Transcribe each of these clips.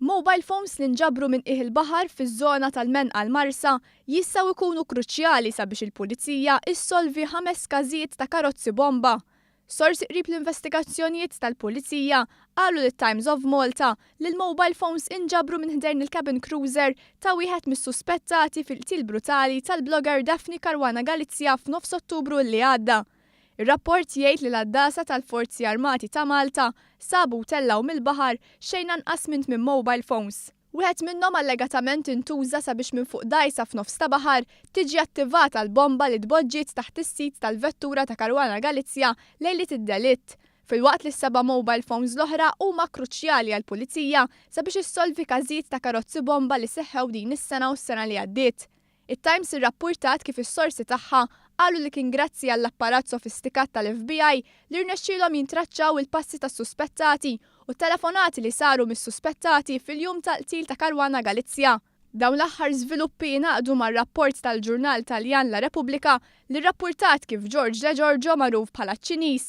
Mobile phones li nġabru minn qiegħ il-baħar fiż-żona tal-Menqal Marsa jistgħu jkunu kruċjali sabiex il-Pulizija ssolvi ħames każijiet ta' karozzi bomba. Sorsi qrib l-investigazzjonijiet tal-Pulizija qalu lit-Times of Malta li l-mobile phones inġabru minn ħdejn il-cabin cruiser ta' wieħed mis-suspettati fil-qtil brutali tal-blogger Daphne Caruana Galizia f'nofs Ottubru li għadda. Ir-rapport jgħid li l-għaddasa tal-Forzi Armati ta' Malta sabu u tellgħu mill-baħar xejn anqas minn tmien mobile phones. Wieħed minnhom allegatament intuża sabiex minn fuq dgħajsa f'nofs ta' baħar tiġi attivata l-bomba li tboġġiet taħt is-sit tal-vettura ta' Caruana Galizia lejliet id-delitt, filwaqt li s-seba' mobile phones l-oħra huma kruċjali għall-Pulizija sabiex issolvi każijiet ta' karozzi bomba li seħħew din is-sena u s-sena li għaddiet. It-Times irrappurtat kif is-sorsi tagħha qalu li kien grazzi għall-apparat sofistikat tal-FBI li rnexxielhom jintraċċaw il-passi tas-suspettati u t-telefonati li saru mis-suspettati fil-jum tal-qtil ta' Caruana Galizia. Dawn l-aħħar żviluppi jingħaqdu ma' rapport tal-ġurnal Taljan La Repubblica li rrappurtat kif George Degiorgio magħruf bħala ċ-Ċiniż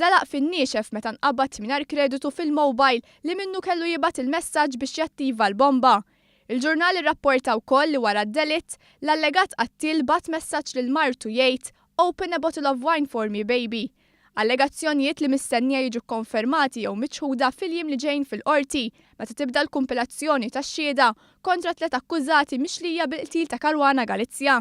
żelaq fin-niexef meta nqabad mingħajr kreditu fil-mowbajl li minnu kellu jibgħat il-messaġġ biex jattiva l-bomba Il-ġurnal irrapporta wkoll li wara d-delitt, l-allegat qattiel bagħat messaġġ lil martu jgħid Open a bottle of wine for me, baby. Allegazzjonijiet li mistennija jiġu kkonfermati jew miċħuda fil-jiem li ġejjin fil-Qorti meta tibda l-kumpilazzjoni tax-xhieda kontra t-tliet akkużati mixlija bil-qtil ta' Caruana Galizia.